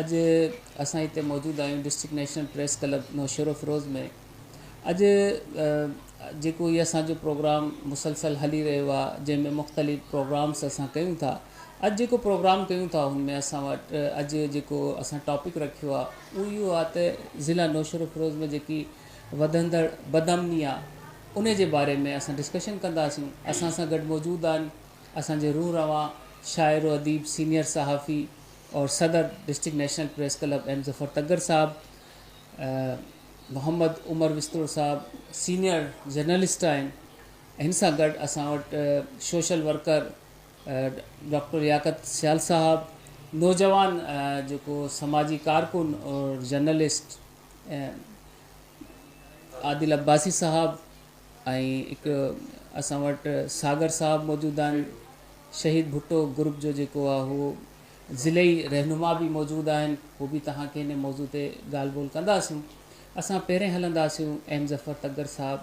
اڄ اسان هتي موجود آهيون district national press club Naushahro Feroze ۾ اڄ جيڪو هي اسانجو پروگرام مسلسل هلي رهيو آهي جنهن ۾ مختلف پروگرامس اسان ڪيون ٿا اڄ جيڪو پروگرام ڪيون ٿا ان ۾ اسان وٽ اڄ جيڪو اسان ٽاپڪ رکيو آهي اهو اهو آهي ته ضلع نوشهرو فيروز ۾ جيڪي وڌندڙ بد امني آهي ان جي باري ۾ اسان ڊسڪشن ڪنداسيون اسان سان گڏ موجود آهن اسانجي روح روا شاعر و اديب سينيئر صحافي اور صدر district national press club M Zafar Tagar صاحب محمد عمر وستوڙ صاحب سينيئر جرنلسٽ آهن هن سان گڏ اسان وٽ social worker doctor Liaquat Sial صاحب نوجوان جيڪو سماجي ڪارڪن اور جرنلسٽ عادل عباسي صاحب ۽ هڪ اسان وٽ ساگر صاحب موجود آهن شهيد ڀٽو گروپ جو جيڪو آهي هو ضلعي رهنما به موجود آهن هو به توهان کي هن موضوع تي ڳالهه ٻولهه ڪنداسون اسان پهرين هلنداسون ايم ظفر تگڙ صاحب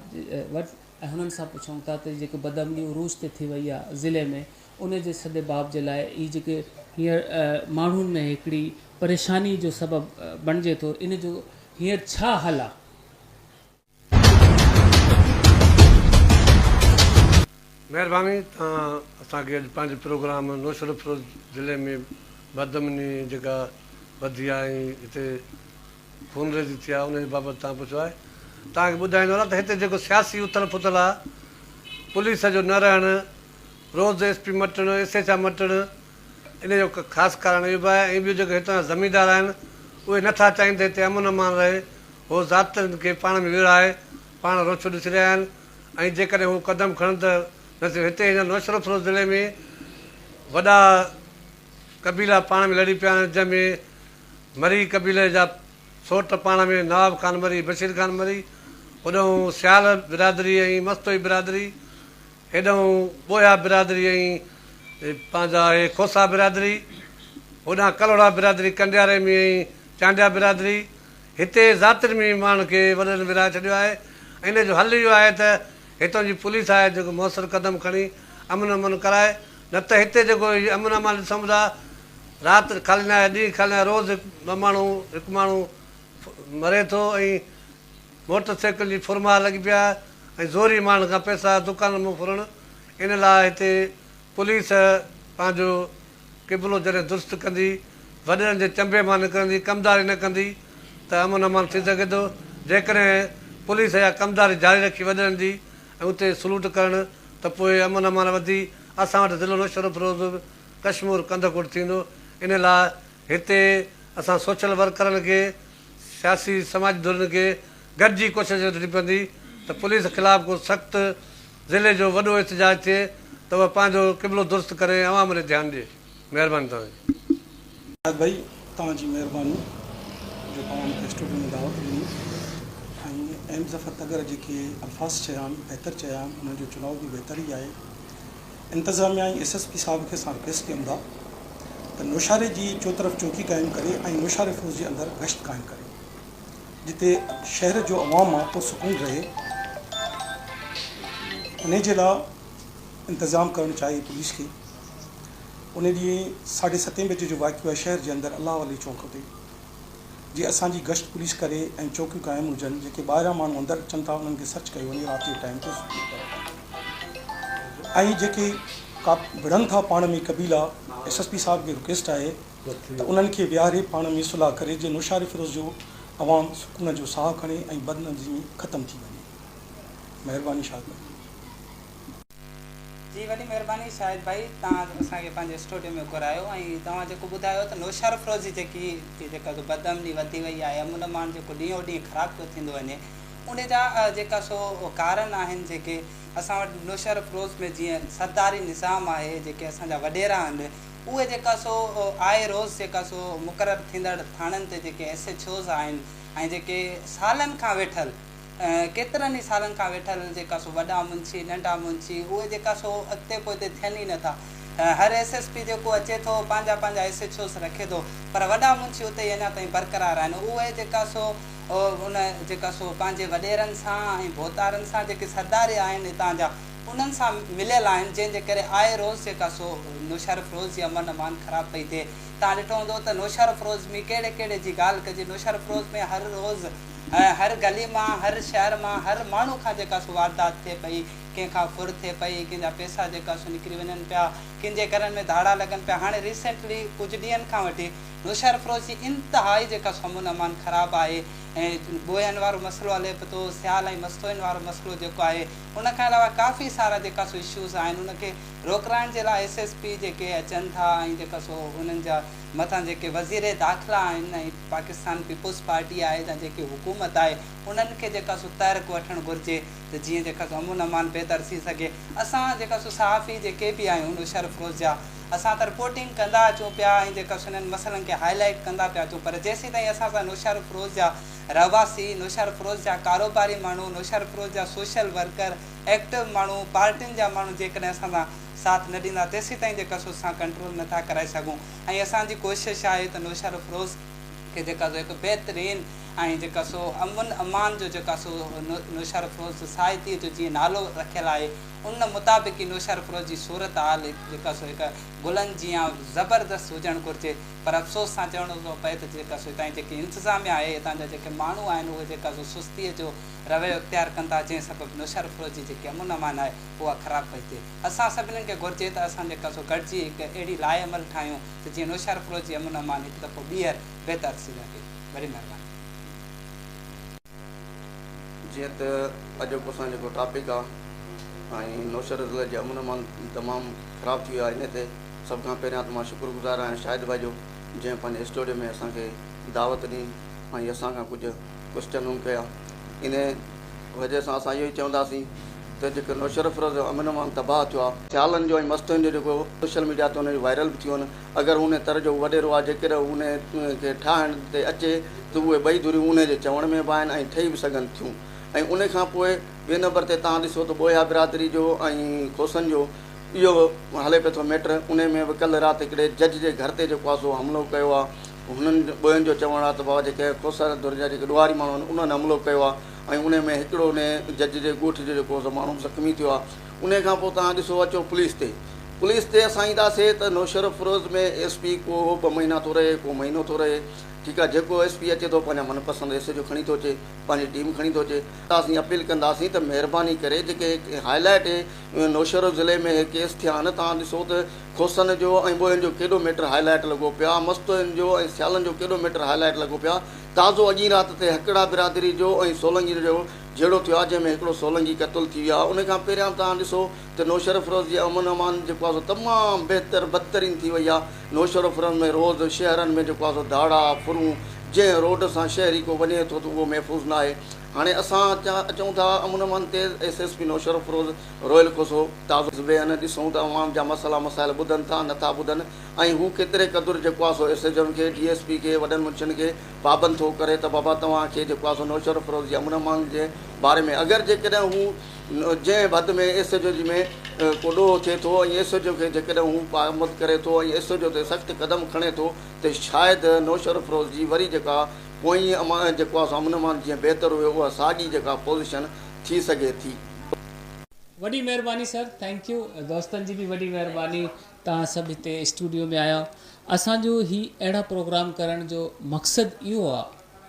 وٽ ۽ هنن سان پڇون ٿا ته جيڪي بدامني عروج تي ٿي وئي آهي ضلعي ۾ ان جي سد باب جي لاء هي جيڪي هينئر ماڻهن ۾ هڪڙي پريشاني جو سبب بڻجي ٿو ان جو هينئر ڇا حل آهي مهرباني توهان اسان کي اڄ پنهنجي پروگرام نوشهرفروز ضلعي ۾ بدامني جيڪا وڌي آهي ۽ هتي خونريزي ٿي آهي ان جي بابت توهان پڇيو آهي توهان کي ٻڌائيندو هلان ته هتي جيڪو سياسي اٿل پٿل آهي پوليس جو نه رهڻ روز ايس پي مٽڻ ايس ايڇ آء مٽڻ ان جو هڪ خاص ڪارڻ اهو به آهي ۽ ٻيو جيڪي هتان جا زميندار آهن اهي نه ٿا چاهين ته هتي امن امان رهي. هو ضابطن کي پاڻ ۾ ويڙهائي پاڻ روڇو ڏسي رهيا آهن ۽ جيڪڏهن هو قدم کڻن ته نه صرف هتي هن نوشهروفروز ضلعي ۾ وڏا قبيلا پاڻ ۾ لڙي پيا آهن جنهن ۾ مري قبيلي جا سوٽ پاڻ ۾ نواب خان مري، بشير خان مري، هوڏانهن سيال برادري ۽ مستوئي برادري هيڏانهن ٻوهيا برادري ۽ پنهنجا اهي کوسا برادري، هوڏانهن ڪلهوڙا برادري، ڪنڊيا رحمي ۽ چانڊيا برادري، هتي ذاتين ۾ ئي ماڻهن کي وڏڙن ورهائي ڇڏيو آهي ۽ ان جو حل اهو آهي ته هتان جي پوليس آهي جيڪو موثر قدم کڻي امن امان ڪرائي نه ته هتي جيڪو هي امن امان ڏسون ٿا رات خالي ناهي ڏينهن خالي ناهي روز هڪ ٻه ماڻهو هڪ ماڻهو مري ٿو ۽ موٽر سائيڪل جي ڦرماء لڳي پيا ۽ زوري ماڻهن کان پئسا دڪانن مون ڦرڻ ان لاء هتي پوليس پنهنجو قبلو جڏهن درست ڪندي وڏڙن جي چنبي مان نڪرندي ڪمداري نه ڪندي ته امن امان ٿي سگهي ٿو جيڪڏهن پوليس اها ڪمداري جاري رکي وڏڙن جي ۽ اتي سلوٽ ڪرڻ ته پوء امن امان وڌي اسان وٽ ضلعو نوشهروفروز ڪشمور ڪنڌڪوٽ ٿيندو ان لاء هتي اسان سوشل ورڪرن کي، سياسي سماجي ڌرين کي گڏجي ڪوشش وٺڻي پوندي ته پوليس خلاف ڪو سخت ضلعي جو وڏو احتجاج ٿئي ته اها پنهنجو قبلو درست ڪري ۽ عوام ڏي ڌيان ڏي. مهرباني توهان جي. شاهد ڀائي توهان جي مهرباني جو توهان مون کي اسٽوڊيو ۾ دعوت ڏني ۽ ايم ظفر تڳر جيڪي الفاظ چيا آهن بهتر چيا آهن انهن جو چناء به بهتر ئي آهي. انتظاميا ۽ ايس ايس پي صاحب کي ساڻ پيس ڪيم دا ته نوشهري جي چوطرف چوڪي قائم ڪري ۽ نوشهري فوج جي اندر گشت قائم ڪري جتي شهر جو عوام مان پرسڪون رهي انهي جي لا انتظام ڪرڻ چاهي پوليس کي انهي ڏينهن ساڍي ستين بجي جو واقعو آهي شهر جي اندر الله علي چونڪ تي جي اسان جي گشت پوليس ڪري ۽ چوڪيون قائم هجن جيڪي ٻاهريان ماڻهو اندر اچن ٿا انهن کي سرچ ڪيو وڃي رات جي ٽائيم تي سٺي طرح ۽ جيڪي ڪا وڙهن ٿا پاڻ ۾ قبيلا ايس ايس پي صاحب کي رڪويسٽ آهي ته انهن کي ويهاري پاڻ ۾ صلح ڪري جيئن نوشهري فيروز جو عوام سڪون جو ساهه کڻي ۽ بدنظمي ختم ٿي وڃي مهرباني شاد محمود جي وڏي مھرباني شاھد ڀائي توھان اسان کي پنھنجي اسٽوڊيو ۾ گھرايو ۽ توھان جيڪو ٻڌايو ته نوشھرو فروزي جيڪي جيڪا جو بد امني وڌي وئي آھي امن امان جيڪو ڏينھون ڏينھن خراب پيو ٿيندو وڃي ان جا جيڪا سو ڪارن آھن جيڪي اسان وٽ نوشھرو فروز ۾ جيئن سرداري نظام آھي جيڪي اسان جا وڏيرا آھن اھي جيڪا سو آء روز جيڪا سو مقرر ٿيندڙ ٿاڻن تي جيڪي ايس ايڇ اوز آھن ۽ جيڪي سالن کان ويٺل ڪيترن ئي سالن کان ويٺل جيڪا سو وڏا منشي، ننڍا منشي، اهي جيڪا سو اڳتي پوئتي ٿين ئي نٿا. هر ايس ايس پي جيڪو اچي ٿو، پنهنجا پنهنجا ايس ايڇ اوز رکي ٿو، پر وڏا منشي اتي ئي اڃا تائين برقرار آهن. اهي جيڪا سو ان جيڪا سو پنهنجي وڏيرن سان ۽ ڀوتارن سان جيڪي سردار آهن هتان جا، انهن سان مليل آهن، جنهن جي ڪري آئي روز جيڪا سو نوشهرافروز جي امن امان خراب پئي ٿئي. توهان ڏٺو هوندو ته نوشهرافروز ۾ ڪهڙي ڪهڙي جي ڳالهه ڪجي، نوشهرافروز ۾ هر روز. ۽ هر گلي مان، هر شهر مان، هر ماڻهو کان جيڪا سو واردات ٿئي پئي، ڪنهن کان ڦر ٿئي پئي، ڪنهن جا پئسا جيڪا سو نڪري وڃن پيا، ڪن جي گهرن ۾ ڌاڙا لڳن پيا، هاڻي ريسينٽلي ڪجهه ڏينهن کان وٺي نوشهر فروش جي انتهائي جيڪا سو امن امان خراب آهي ۽ ٻوهين وارو مسئلو هلي پتو، سيال ۽ مستوئين وارو مسئلو جيڪو آهي، ان کان علاوه ڪافي سارا جيڪا سو اشوز آهن ان کي روڪرائڻ جي لاء ايس ايس پي جيڪي اچن ٿا ۽ جيڪا سو انهن جا مٿان جيڪي وزير داخلا آهن ۽ پاڪستان پيپلز پارٽي آهي يا جيڪي حڪومت آهي انهن کي جيڪا سو تحرڪ وٺڻ گهرجي ته جيئن جيڪا سو امن امان بهتر ٿي سگهي اسان جيڪا سو صحافي جيڪي به آهيون ان شرف روز جا اسان ته رپورٽنگ ڪندا اچون پيا ۽ جيڪا سو انهن مسئلن کي هائي لائيٽ ڪندا پيا اچون پر جيسين تائين اسان سان نوشهرف روز جا رهواسي نوشهرف روز جا ڪاروباري ماڻهو نوشهرف روز جا سوشل ورڪر ايڪٽو ماڻهو پارٽين جا ماڻهو جيڪڏهن اسان سان ساٿ نه ڏيندا تيسين تائين جيڪا سو اسان ڪنٽرول نه ٿا ڪرائي سگهون. ۽ اسان جي ڪوشش آهي ته نوشهرافروز کي جيڪا سو هڪ بهترين ۽ جيڪا سو امن امان جو جيڪا سو نوشهرافروز سوسائٽيء جو جيئن نالو رکيل آهي ان مطابق ئي نوشهرافروز جي صورتحال جيڪا سو هڪ گلن جيان زبردست هجڻ گهرجي پر افسوس سان چوڻو ٿو پئي ته جيڪا سو هتان جي جيڪي انتظاميه آهي هتان جا جيڪي ماڻهو آهن اهي جيڪا سو سستيء جو رويو اختيار ڪن ٿا جنهن سبب نوشهرافروز جي جيڪي امن امان آهي اها خراب پئي ٿئي. اسان سڀني کي گهرجي ته اسان جيڪا سو گڏجي هڪ اهڙي لائحه عمل ٺاهيون ته جيئن نوشهرفروش جي امن امان هڪ دفعو ٻيهر بهتر ٿي سگهي. وڏي مهرباني. جيئن ته اڄ جو اسان جيڪو ٽاپڪ آ ۽ نوشهر ضلعي جي امن امان تمام خراب ٿي ويو آ انهي تي سڀ کان پهريان ته مان شڪر گذار آهيان شاهد ڀائي جو جنهن پنهنجي اسٽوڊيو ۾ اسان کي دعوت ڏني ۽ اسان کان ڪجهه ڪوسٽيون هم ڪيا انهي وجهه سان اسان اهو ئي چونداسين ته جيڪو نوشهرافروز جو امن امان تباهه ٿيو آهي، سيالن جو ۽ مستوين جو جيڪو سوشل ميڊيا تي انهن جون وائرل به ٿيون آهن، اگر هو انهيء تر جو وڏيرو آهي، جيڪڏهن هو انهيء کي ٺاهڻ تي اچي ته اهي ٻئي ڌريون انهيء جي چوڻ ۾ به آهن ۽ ٺهي به سگهن ٿيون ۽ انهيء کان پوء ٻئي نمبر تي توهان ڏسو ته ٻوهيا برادري جو ۽ کوسن جو اهو هلي پيو ٿو ميٽر، انهيء ۾ به ڪلهه رات هڪڙي جج جي گهر تي جيڪو آسو حملو ڪيو آهي، هنن ٻين جو چوڻ آهي ته بابا جيڪي کوسر ڌر جا جيڪي ڏوهاري ماڻهو آهن انهن حملو ڪيو آهي ۽ انهي ۾ هڪڙو انهي جج جي ڳوٺ جو جيڪو سو ماڻهو زخمي ٿيو آهي انهي کان پوء توهان ڏسو اچو پوليس تي پوليس تي اسان ايندا سي ته نوشهروفيروز ۾ ايس پي ڪو ٻه مهينا ٿو رهي ڪو مهينو ٿو رهي ٺيڪ آهي جيڪو ايس پي اچي ٿو پنهنجا من پسند ايس ايڇ او کڻي ٿو اچي پنهنجي ٽيم کڻي ٿو اچي اسين اپيل ڪنداسين ته مهرباني ڪري جيڪي هاء لائيٽ نوشهرو ضلعي ۾ هي ڪيس ٿيا آهن توهان ڏسو ته کوسن جو ۽ ٻوهين جو ڪيڏو ميٽر هاء لائيٽ لڳو پيا، مستوئين جو ۽ سيالن جو ڪيڏو ميٽر هاء لائيٽ لڳو پيا، تازو اڄ ئي رات تي هڪڙا برادري جو ۽ سولنگين جو جهيڙو ٿيو آهي جنهن ۾ هڪڙو سولنگي قتل ٿي ويو آهي ان کان پهريان توهان ڏسو ته نوشهروفروز جي امن امان جيڪو آهي سو تمام بهتر بدترين ٿي وئي آهي نوشهروفروز ۾ روز شهرن ۾ جيڪو آهي سو ڌاڙا ڦرون جنهن روڊ سان شهري ڪو وڃي ٿو ته اهو محفوظ ناهي هاڻي اسان اچون ٿا امن امان تيز ايس ايس پي نوشهروفروز روئل ڪوسو، تازو زبيهن، ڏسون ته عوام جا مسئلا مسائل ٻڌن ٿا نه ٿا ٻڌن ۽ هو ڪيتري قدر جي ڪواسو ايس ايڇ ايم کي، ڊي ايس پي کي، وڏن منشين کي پابند ٿو ڪري ته بابا توهان کي جي ڪواسو نوشهرافروز يا منه مانگ جي باري ۾ اگر جيڪڏهن هو جنهن به حد ۾ ايس ايڇ او جي ۾ ڪو ڏوهه ٿئي ٿو ۽ ايس ايڇ او کي جيڪڏهن هو پابند ڪري ٿو ۽ ايس ايڇ او تي سخت قدم کڻي ٿو ته شايد نوشهرافروز جي وري جيڪا پوئين جي ڪواسو منه مانگ جيئن بهتر هئي اها ساڳي جيڪا پوزيشن ٿي سگهي ٿي. وڏي مهرباني سر ٿينڪ يو دوستن جي به وڏي مهرباني تان سڀ هتي اسٽوڊيو ۾ آيا اسان جو هي اهڙا پروگرام ڪرڻ جو مقصد اهو آ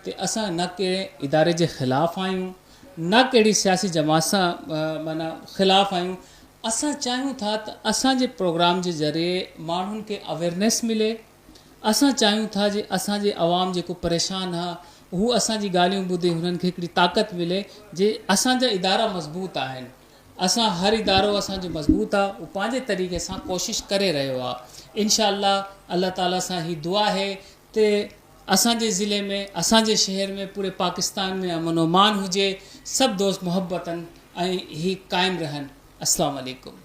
ته اسان نه ڪهڙي اداري جي خلاف آهيون نه ڪهڙي سياسي جماعت سان معنيٰ خلاف آهيون اسان چاهيون ٿا ته اسان جي پروگرام جي ذريعي ماڻهن کي اويرنيس ملي اسان چاهيون ٿا جي اسان جي عوام جيڪو پريشان آهي اهو اسان جي ڳالهيون ٻڌي هنن کي هڪڙي طاقت ملي جي اسان جا ادارا مضبوط آهن اسان هر ادارو اسان جو مضبوط آهي اهو پنهنجي طريقي سان ڪوشش ڪري رهيو آهي انشاء الله الله تعالي سان هي دعا آهي تي اسان جي ضلعي ۾ اسان جي شهر ۾ پوري پاڪستان ۾ امن و امان هجي سڀ دوست محبتن ۽ هي قائم رهن السلام عليڪم